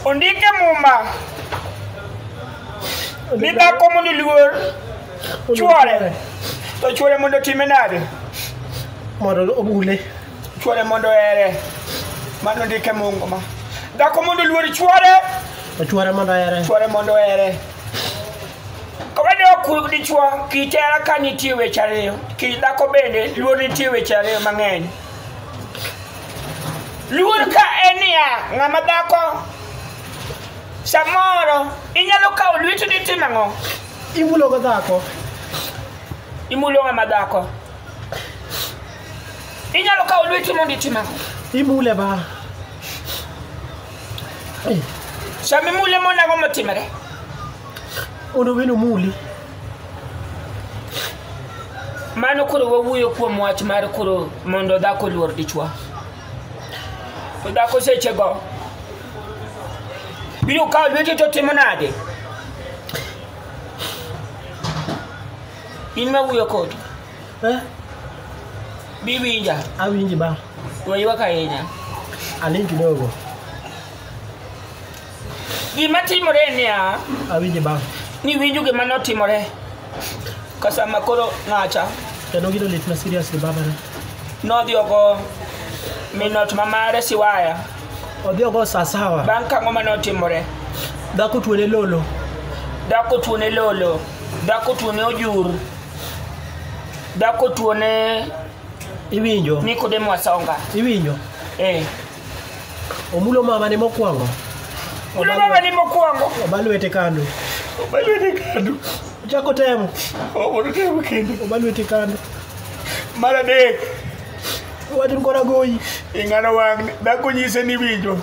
Ondike muma ni dhako mondo oluor chwore to chwore mondo otime nade mondo obule chwore mondo ohere mano ndike mungu ma dhako mondo oluor chwore to chwore mondo ohere chwore mondo ohere Kawade ok dichwo kitera ka nitie weche ariyo, kidhako bende luor nitie weche ariyo mang'eny. Luor ka en niya, ng'ama dhako samoro inyalo kawo lweti ni tim ang'o? Imulo go dhako. Imulo ng'ama dhako. Inyalo kawo lweti mondo itim ang'o? Imule ba. Sama imule mondo ang'o motimore? Mondo welo omuli. Mano koro wawuoyo kuom wach mar koro mondo dhako oluor dichwo. To dhako sechego biro kawo lweti to timo nade? In ma wuoyo kodi, Eh, biwinja, awinji ba. weywak ahinya. Aling kidogo. Gima timore en niya, Awinje bang'. niwinjo gima notimore ka sama koro ng'acha Kendo gino lit na seriously baba ne. nodhi ogo minot ma mare siwaya Odhi ogo saa sawa. bang' kang'o ma notimore Dhako tuone lolo. dhako tuone lolo dhako tuone ojur dhako tuone Iwinjo. nikodemo asonga Iwinjo. eh. Omulo mama ne mokwongo. Mulo mama ni mokwongo. Oba lwete kando. Oba lwete kando. Ochako temo. Omondo temo kendo. Oba lwete kando. Mar adek. Wachni kora goyi. Ing'ano wang' dhako nyise ni winjo.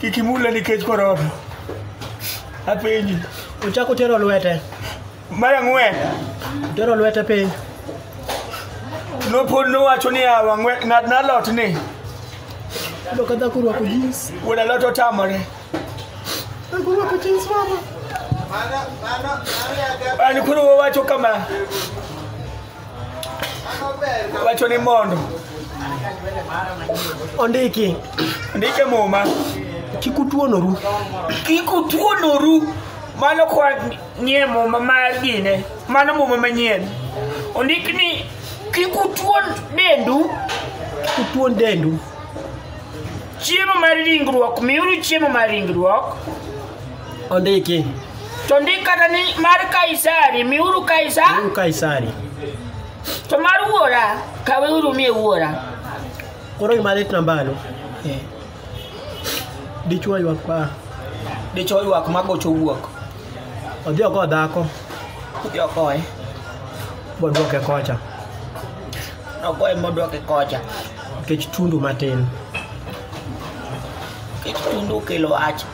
Kik imule nikech korona. Apenji. Ochako tero lwete. Mar ang'wen, Tero lwete piny. nopod nowacho niya, "Wang'we- ng'at na lot ni Iyudo ka dhako orwako jeans. wuod alot otamore. Dhako orwako jeans mama. An koro wawacho kama, wacho ni mondo Ondiki. ndike muma Kik utuonoru. kik utuonoru mano kwa nie muma mar gine mano muma manyien ondik ni kik utuon dendu kik utuon dendu chiemo mar ringruok miuru chiemo mar ringruok ondiki to ndik kata ni mar kaisari miuru kaisa uru kaisari to mar wuora kaweuru mie wuora koro gima lit nambano Dichwo ywak pa. Dichwo ywak ma gocho wuok. Odhi oko dhako. Odhi oko e. Bodwoke kocha. Nogoye modwoke kocha. Nikech tundu matin. Nikech tundu kelo wach.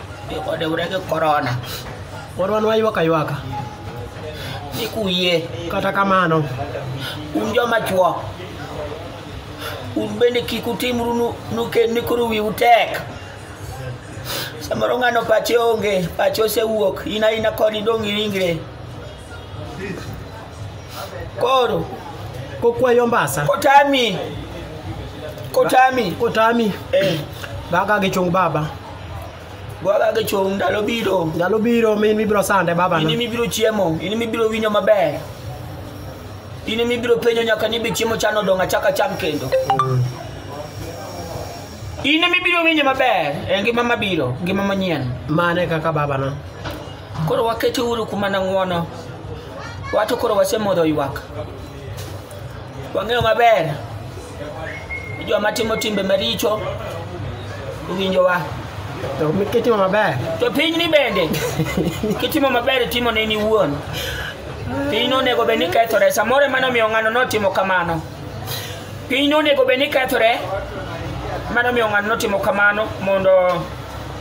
Odewre gi korona. Koro wan waywak aywaka. Ni kuyie. Kata kamano. Un joma chwo. un bende kik utimru nu- nuken ni koro wiu tek samoro ng'ano pache onge pache osewuok in aina kod idong' gi ringre koro kokwayo mbasa kotami kotami kotami eh. baga gi chung baba Baba ke chung ndalo biro. Ndalo biro mi mibiro sande baba. Ini mibiro chiemo, ini mibiro winyo maber. Ini mibiro penyo nyaka ni be chiemo chano donga chaka cham kendo. Ini mibiro winyo maber, e ngima mabiro, ngima manyien. Mane kaka baba na. Koro wakete uru kuma na ngwono. Watu koro wasemodho ywak. wang'eyo maber ni joma timo timbe maricho owinjowa To kitimo maber. to pinyni bende kitimo maber itimo ne in iwuon piny onego bed ni kethore samoro ema nomiyo ng'ano notimo kamano piny onego bed ni kethore ema nomiyo ng'ano notimo kamano mondo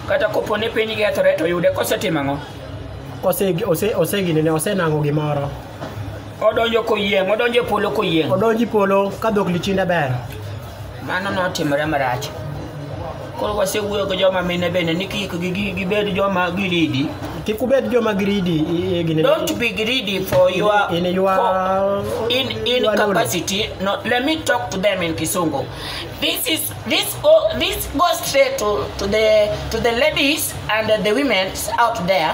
kata kopo ni piny kethore to yude kosetimo ang'o Ose ose osegine ne osenango gimoro. odonjo koyieng' odonjo e polo koyieng' odonji polo ka dhok lichinde ber mano notimore marach koro wasewuoyo gi joma mine bende ni kik gi- gi- gibed joma giridi kik ubed joma giridi i- i- gini- don't be greedy for your in your for- in in your knowledge. capacity no let me talk to them in kisungu this is this go this goes straight to to the to the ladies and the women out there